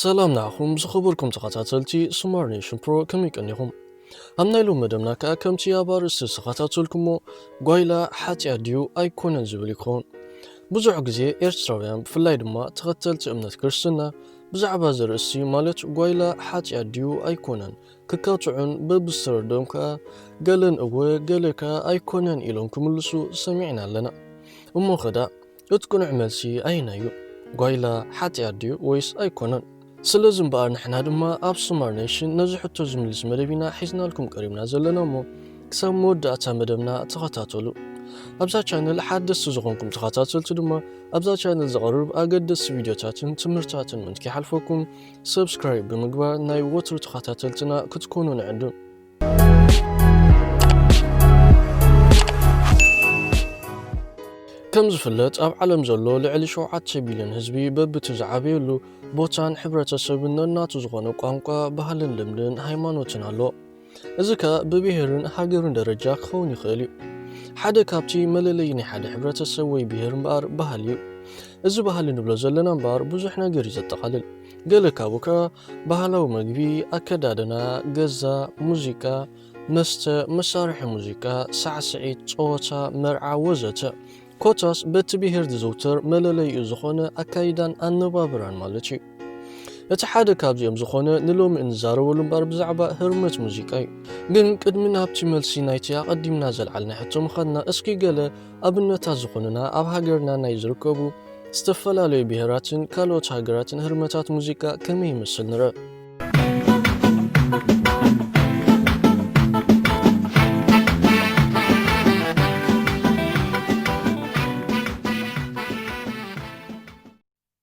ሰላም ንዓኹም ዝኸበርኩም ተኸታተልቲ ስማር ኔሽን ፕሮ ከመይ ቀኒኹም ኣብ ናይ ሎም መደብና ከኣ ከምቲ ኣብ ኣርእስቲ ዝተኸታተልኩሞ ጓይላ ሓጢኣት ድዩ ኣይኮነን ዝብል ይኸውን ብዙሕ ግዜ ኤርትራውያን ብፍላይ ድማ ተኸተልቲ እምነት ክርስትና ብዛዕባ እዚ ርእስቲ ማለት ጓይላ ሓጢኣት ድዩ ኣይኮነን ክካትዑን በብዝተረድኦም ከኣ ገለን እወ ገለ ከኣ ኣይኮነን ኢሎም ክምልሱ ሰሚዕና ኣለና እሞ ኸዳ እቲ ቅኑዕ መልሲ ኣየናይ እዩ? ጓይላ ሓጥያት ድዩ ወይስ ኣይኮነን? ስለዚ እምበኣር ንሕና ድማ ኣብ ሶማር ኔሽን ነዚ ሕቶ ዝምልስ መደብ ኢና ሒዝናልኩም ቀሪብና ዘለና እሞ ክሳብ መወዳእታ መደብና ተኸታተሉ። ኣብዛ ቻነል ሓደስቲ ዝኾንኩም ተኸታተልቲ ድማ ኣብዛ ቻነል ዝቐርብ ኣገደስቲ ቪድዮታትን ትምህርታትን ምንት ከይሓልፈኩም ሰብስክራይብ ብምግባር ናይ ወትሩ ተኸታተልትና ክትኮኑ ንዕድም። ከም ዝፍለጥ ኣብ ዓለም ዘሎ ልዕሊ ሸውዓተ ቢልዮን ህዝቢ በብቲ ዝዓበየሉ ቦታን ሕብረተሰብን ነናቱ ዝኾነ ቋንቋ፣ ባህልን ልምድን ሃይማኖትን ኣሎ። እዚ ከ ብብሔርን ሃገርን ደረጃ ክኸውን ይኽእል እዩ። ሓደ ካብቲ መለለይ ናይ ሓደ ሕብረተሰብ ወይ ብሔር እምበኣር ባህሊ እዩ። እዚ ባህሊ ንብሎ ዘለና እምበኣር ብዙሕ ነገር እዩ ዘጠቓልል። ገለ ካብኡ ከኣ ባህላዊ መግቢ፣ ኣከዳድና፣ ገዛ፣ ሙዚቃ፣ መስተ፣ መሳርሒ ሙዚቃ፣ ሳዕስዒት፣ ጸወታ፣ መርዓ ወዘተ ኮታስ በቲ ብሄር ዝዝውተር መለለይኡ ዝኾነ ኣካይዳን ኣነባብራን ማለት እዩ። እቲ ሓደ ካብዚኦም ዝኾነ ንሎሚ እንዛረበሉ እምበኣር ብዛዕባ ህርመት ሙዚቃ እዩ። ግን ቅድሚ ናብቲ መልሲ ናይቲ ኣቐዲምና ዘልዓልናዮ ሕቶ ምኻድና እስኪ ገለ ኣብነታት ዝኾኑና ኣብ ሃገርና ናይ ዝርከቡ ዝተፈላለዩ ብሄራትን ካልኦት ሃገራትን ህርመታት ሙዚቃ ከመይ ይመስል ንርእ።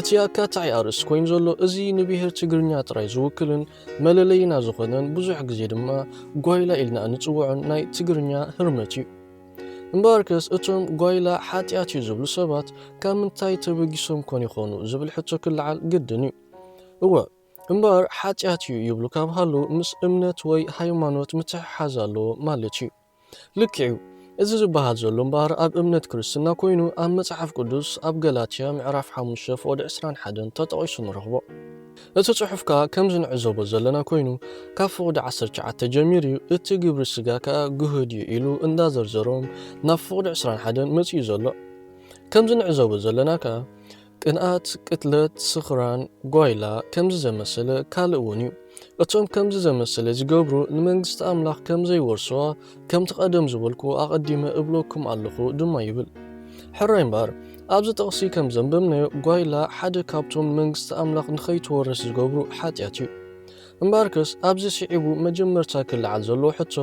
እቲ ኣካታዒ ኣርእስቲ ኮይኑ ዘሎ እዚ ንብሄር ትግርኛ ጥራይ ዝውክልን መለለይና ዝኾነን ብዙሕ ግዜ ድማ ጓይላ ኢልና እንጽውዖን ናይ ትግርኛ ህርመት እዩ። እምበኣርከስ እቶም ጓይላ ሓጢኣት እዩ ዝብሉ ሰባት ካብ ምንታይ ተበጊሶም ኮን ይኾኑ ዝብል ሕቶ ክለዓል ግድን እዩ። እወ እምበኣር ሓጢኣት እዩ ይብሉ ካብ ሃለው ምስ እምነት ወይ ሃይማኖት ምትሕሓዝ ኣለዎ ማለት እዩ። ልክዕዩ እዚ ዝበሃል ዘሎ እምበኣር ኣብ እምነት ክርስትና ኮይኑ ኣብ መጽሓፍ ቅዱስ ኣብ ገላትያ ምዕራፍ ሓሙሽተ ፍቕዲ ዕስራን ሓደን ተጠቒሱ ንረኽቦ። እቲ ጽሑፍ ከኣ ከምዚ ንዕዘቦ ዘለና ኮይኑ ካብ ፍቕዲ ዓሰርተ ትሽዓተ ጀሚሩዩ እቲ ግብሪ ስጋ ከኣ ግሁድዩ ኢሉ እንዳ ዘርዘሮም ናብ ፍቕዲ ዕስራን ሓደን መጺኡ ዘሎ። ከምዚ ንዕዘቦ ዘለና ከኣ ቅንኣት፣ ቅትለት፣ ስኽራን፣ ጓይላ ከምዚ ዘመሰለ ካልእ ውን እዩ። እቶም ከምዚ ዘመሰለ ዝገብሩ ንመንግስቲ ኣምላኽ ከም ዘይወርስዋ ከምቲ ቀደም ዝበልኩ ኣቐዲመ እብለኩም ኣለኹ ድማ ይብል። ሕራይ እምበኣር ኣብዚ ጥቕሲ ከም ዘንበብናዮ ጓይላ ሓደ ካብቶም ንመንግስቲ ኣምላኽ ንኸይትወርስ ዝገብሩ ሓጢኣት እዩ። እምበኣርከስ ኣብዚ ስዒቡ መጀመርታ ክለዓል ዘለዎ ሕቶ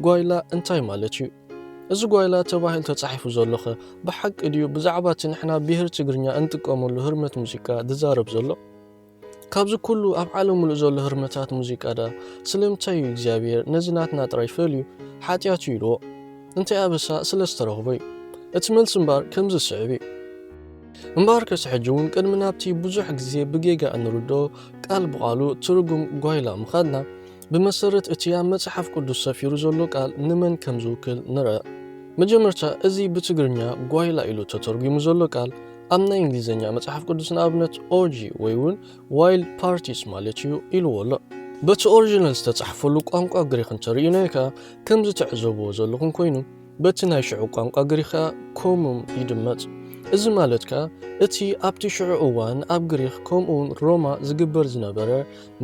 ጓይላ እንታይ ማለት እዩ? እዚ ጓይላ ተባሂሉ ተጻሒፉ ዘሎኸ ብሓቂ ድዩ ብዛዕባ እቲ ንሕና ብሄር ትግርኛ እንጥቀመሉ ህርመት ሙዚቃ ዝዛረብ ዘሎ? ካብዚ ኩሉ ኣብ ዓለም ምሉእ ዘሎ ህርመታት ሙዚቃ ደኣ ስለምንታይ እዩ እግዚኣብሄር ነዚ ናትና ጥራይ ፈልዩ ሓጢኣት እዩ ኢልዎ? እንታይ ኣበሳ ስለ ዝተረኽቦ እዩ? እቲ መልሲ እምበኣር ከምዚ ዝስዕብ እዩ። እምበኣርከስ ሕጂ እውን ቅድሚ ናብቲ ብዙሕ ግዜ ብጌጋ እንርድኦ ቃል ብቓሉ ትርጉም ጓይላ ምኻድና፣ ብመሰረት እቲ ኣብ መጽሓፍ ቅዱስ ሰፊሩ ዘሎ ቃል ንመን ከም ዝውክል ንርኣ። መጀመርታ እዚ ብትግርኛ ጓይላ ኢሉ ተተርጒሙ ዘሎ ቃል ኣብ ናይ እንግሊዝኛ መጽሓፍ ቅዱስ ንኣብነት ኦርጂ ወይ እውን ዋይልድ ፓርቲስ ማለት እዩ ኢልዎ ኣሎ። በቲ ኦሪጂናል ዝተጻሕፈሉ ቋንቋ ግሪኽ እንተርኢናዮ ከኣ ከምዚ ትዕዘብዎ ዘለኹም ኮይኑ በቲ ናይ ሽዑ ቋንቋ ግሪኽ ከኣ ኮሙም ይድመጽ። እዚ ማለት ከኣ እቲ ኣብቲ ሽዑ እዋን ኣብ ግሪኽ ከምኡውን ሮማ ዝግበር ዝነበረ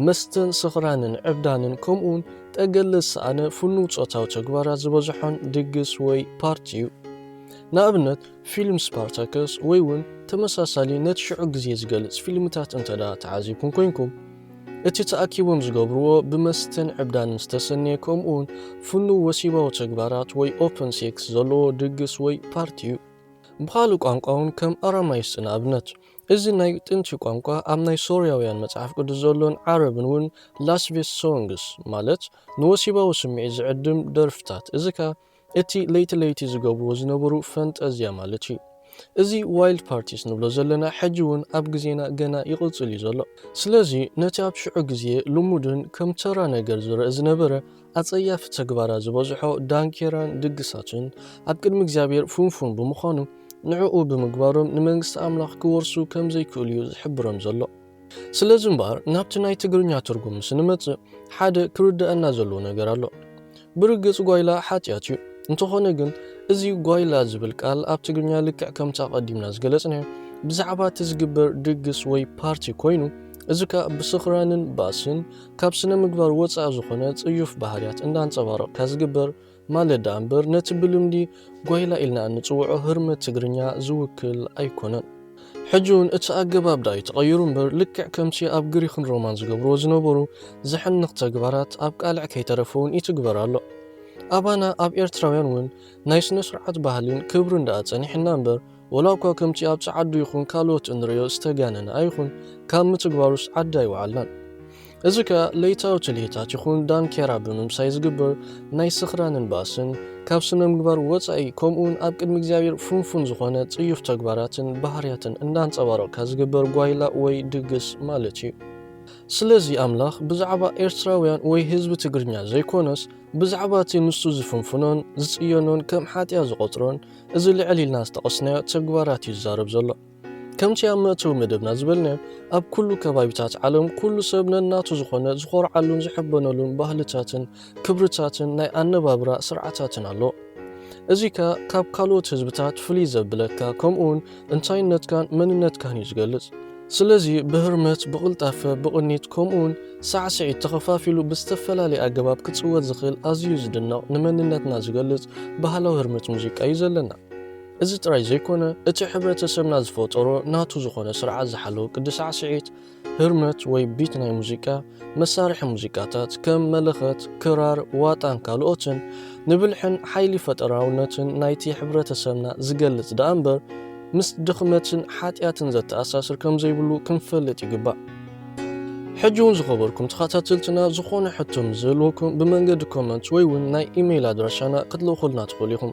መስተን ስኽራንን ዕብዳንን ከምኡውን ጠገለ ዝሰኣነ ፍኑው ጾታዊ ተግባራት ዝበዝሖን ድግስ ወይ ፓርቲ እዩ። ንኣብነት ፊልም ስፓርታከስ ወይ እውን ተመሳሳሊ ነቲ ሽዑ ግዜ ዝገልጽ ፊልምታት እንተድኣ ተዓዚብኩም ኮይንኩም፣ እቲ ተኣኪቦም ዝገብርዎ ብመስተን ዕብዳንን ዝተሰነየ ከምኡውን ፍኑው ወሲባዊ ተግባራት ወይ ኦፐን ሴክስ ዘለዎ ድግስ ወይ ፓርቲ እዩ። ብኻልእ ቋንቋ እውን ከም ኣራማይስጢ ንኣብነት እዚ ናይ ጥንቲ ቋንቋ ኣብ ናይ ሶርያውያን መጽሓፍ ቅዱስ ዘሎን ዓረብን ውን ላስቪስ ሶንግስ ማለት ንወሲባዊ ስምዒት ዝዕድም ደርፍታት እዚ ከኣ እቲ ለይቲ ለይቲ ዝገብርዎ ዝነበሩ ፈንጠዝያ ማለት እዩ እዚ ዋይልድ ፓርቲስ ንብሎ ዘለና ሕጂ ውን ኣብ ግዜና ገና ይቕጽል እዩ ዘሎ ስለዚ ነቲ ኣብ ሽዑ ግዜ ልሙድን ከም ተራ ነገር ዝረእ ዝነበረ ኣጸያፊ ተግባራት ዝበዝሖ ዳንኬራን ድግሳትን ኣብ ቅድሚ እግዚኣብሔር ፍንፉን ብምዃኑ ንዕኡ ብምግባሮም ንመንግስቲ ኣምላኽ ክወርሱ ከም ዘይክእሉ እዩ ዝሕብሮም ዘሎ። ስለዚ እምበኣር ናብቲ ናይ ትግርኛ ትርጉም ምስ እንመጽእ ሓደ ክርደኣና ዘለዎ ነገር ኣሎ። ብርግጽ ጓይላ ሓጢኣት እዩ። እንተኾነ ግን እዚ ጓይላ ዝብል ቃል ኣብ ትግርኛ ልክዕ ከምቲ ኣቐዲምና ዝገለጽናዮ ብዛዕባ እቲ ዝግበር ድግስ ወይ ፓርቲ ኮይኑ እዚ ከኣ ብስኽራንን ባእስን ካብ ስነ-ምግባር ወጻኢ ዝኾነ ጽዩፍ ባህርያት እንዳንጸባረቕካ ዝግበር ማለት ደኣ እምበር ነቲ ብልምዲ ጓይላ ኢልና እንጽውዖ ህርመት ትግርኛ ዝውክል ኣይኮነን። ሕጂ ውን እቲ ኣገባብ ደኣ እዩ ተቐይሩ እምበር ልክዕ ከምቲ ኣብ ግሪኽን ሮማን ዝገብርዎ ዝነበሩ ዘሕንኽ ተግባራት ኣብ ቃልዕ ከይተረፈ ውን ይትግበር ኣሎ። ኣባና ኣብ ኤርትራውያን ውን ናይ ስነ-ስርዓት ባህሊን ክብርን ደኣ ጸኒሑና እምበር ወላ'ኳ ከምቲ ኣብ ጸዓዱ ይኹን ካልኦት እንርእዮ ዝተጋነነ ኣይኹን፣ ካብ ምትግባሩስ ዓዲ ኣይወዓልናን። እዚ ከኣ ለይታዊ ትልሂታት ይኹን ዳንኬራ ብምምሳይ ዝግበር ናይ ስኽራንን ባእስን፣ ካብ ስነምግባር ወጻኢ ከምኡ'ውን ኣብ ቅድሚ እግዚኣብሔር ፍንፉን ዝኾነ ጽዩፍ ተግባራትን ባህርያትን እንዳንጸባረቕካ ዝግበር ጓይላ ወይ ድግስ ማለት እዩ። ስለዚ ኣምላኽ ብዛዕባ ኤርትራውያን ወይ ህዝቢ ትግርኛ ዘይኮነስ፣ ብዛዕባ እቲ ንሱ ዝፍንፍኖን ዝጽየኖን ከም ሓጥያት ዝቖጽሮን፣ እዚ ልዕል ኢልና ዝተቐስናዮ ተግባራት እዩ ዝዛረብ ዘሎ። ከምቲ ኣብ መእተዊ መደብና ዝበልናዮ ኣብ ኩሉ ከባቢታት ዓለም ኩሉ ሰብ ነናቱ ዝኾነ ዝኾርዓሉን ዝሕበነሉን ባህልታትን ክብርታትን ናይ ኣነባብራ ስርዓታትን ኣሎ። እዚ ከኣ ካብ ካልኦት ህዝብታት ፍልይ ዘብለካ ከምኡውን እንታይነትካን መንነትካን እዩ ዝገልጽ። ስለዚ ብህርመት፣ ብቕልጣፈ፣ ብቕኒት ከምኡውን ሳዕስዒት ተኸፋፊሉ ብዝተፈላለየ ኣገባብ ክጽወት ዝኽእል ኣዝዩ ዝድነቕ ንመንነትና ዝገልጽ ባህላዊ ህርመት ሙዚቃ እዩ ዘለና። እዚ ጥራይ ዘይኮነ እቲ ሕብረተሰብና ዝፈጠሮ ናቱ ዝኾነ ስርዓት ዝሓለወ ቅዲ ሳዕስዒት ህርመት ወይ ቢት ናይ ሙዚቃ፣ መሳርሒ ሙዚቃታት ከም መለኸት፣ ክራር፣ ዋጣን ካልኦትን፣ ንብልሕን ሓይሊ ፈጠራውነትን ናይቲ ሕብረተሰብና ዝገልጽ ደኣ እምበር፣ ምስ ድኽመትን ሓጢኣትን ዘተኣሳስር ከም ዘይብሉ ክንፈልጥ ይግባእ። ሕጂ'ውን ዝኸበርኩም ተኸታተልትና ዝኾነ ሕቶ ምስ ዝህልወኩም ብመንገዲ ኮመንት ወይ ውን ናይ ኢመይል ኣድራሻና ክትልእኹልና ትኽእሉ ኢኹም።